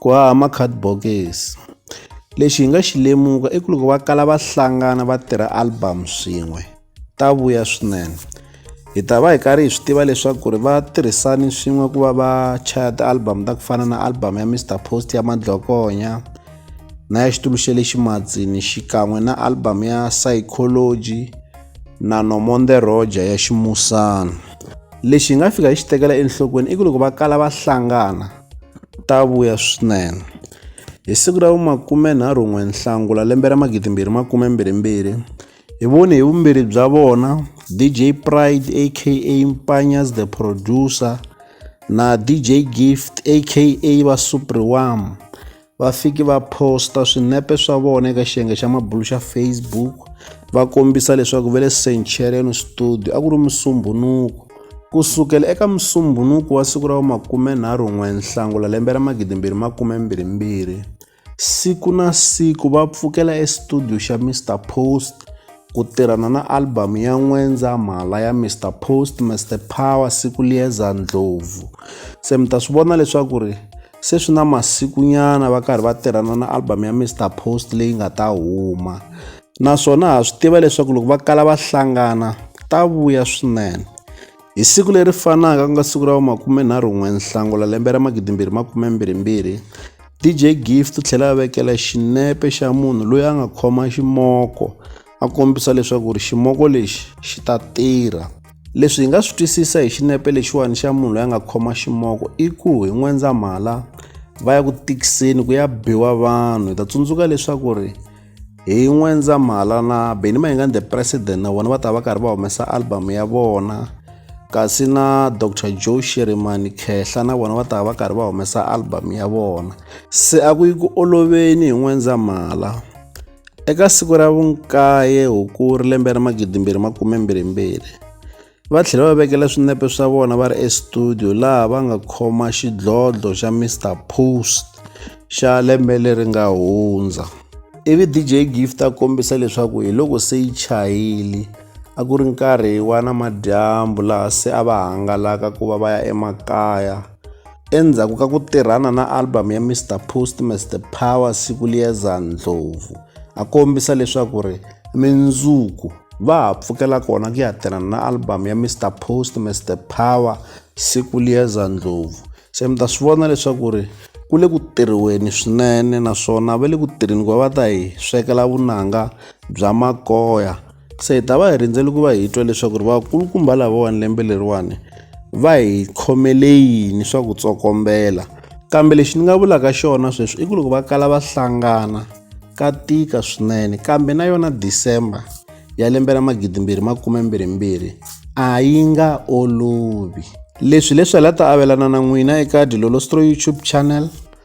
ku haha ma-card bokisi lexi hi nga xi lemuka i ku loko va kala va hlangana va tirha album swin'we ta vuya swinene hi ta va hi karhi hi swi tiva leswaku ri va tirhisani swin'we ku va va chaya ti-album ta ku fana na album ya mr post ya madlokonya na ya xitulu xa le ximatsini xikan'we na album ya psychology na nomonde roger ya ximusana lexi hi nga fika hi xi tekela enhlokweni i ku loko va kala va hlangana ta vuya swinene. Hi siku ra vu-29 Nhlangula lembe ra 2022, hi vone hi vumbirhi bya vona DJ Pride aka Mpanyas the Producer na DJ Gift aka Va Supriwam va fiki va posta swinepe swa vona eka xiyenge xa mabulu xa facebook va kombisa leswaku va le centurion studio a ku ri musumbunuku ku sukela eka musumbunuku wa siku ra wa makumenharhu n'we nhlangula lembe ra magidimbirhi makumembirhimbirhi siku na siku va pfukela estudio xa mr post ku tirhana na albhamu ya n'wendza mhala ya mr post mr power siku liyeza ndlhovu se mi ta swi vona leswaku ri Se swi na masikunyana va karhi va tirhana na album ya Mr Post leyi nga ta huma naswona ha swi tiva leswaku loko va kala va hlangana ta vuya swinene hi siku leri fanaka ku nga siku ra makumenharhu n'we nhlangula lembe ra magidimbirhi makumembirhimbirhi DJ Gift u tlhela a vekela xinepe xa munhu loyi a nga khoma ximoko a kombisa leswaku ri ximoko lexi xi ta tirha leswi hi nga swi twisisa hi xinepe lexiwani xa munhu loyi a nga khoma ximoko i ku hi n'wendzamhala va ya ku tikiseni ku ya biwa vanhu hi ta tsundzuka leswaku ri hi n'wendzamhala na beni mayingani the president na vona va ta va karhi va humesa album ya vona kasi na dr joe shirimani khehla na vona va ta va karhi va humesa album ya vona se a ku yi ku oloveni hi n'wendzamhala Eka siku ra vunkaye Hukuri lembe ra 2022, va tlhele va vekela swinepe swa vona va ri estudiyo laha va nga khoma xidlodlo xa Mister Post xa lembe leri nga hundza. Ivi DJ Gift a kombisa leswaku hi loko se yi chayile a ku ri nkarhi wa namadyambu laha se a va hangalaka ku va va ya emakaya. Endzhaku ka ku tirhana na album ya Mr Post Mr Power siku liyeza Ndlovu a kombisa leswaku ri mindzuku va ha pfukela kona ku ya tirhana na album ya Mr Post Mr Power siku liyeza Ndlovu se mi ta swi vona leswaku ri ku le ku tirhiweni swinene naswona va le ku tirheni ku va va ta hi swekela vunanga bya makoya se hi ta va hi rindzele ku va hi twa leswaku ri vakulukumba lavawani lembe leriwani va hi khomele yini swa ku tsokombela kambe lexi ni nga vulaka xona sweswi i ku loko va kala va hlangana ka tika swinene kambe na yona december ya lembe ra magidimbirhi makume mbirhimbirhi a yi nga olovi leswi leswi hi la ta avelana na n'wina eka dilolostro youtube channel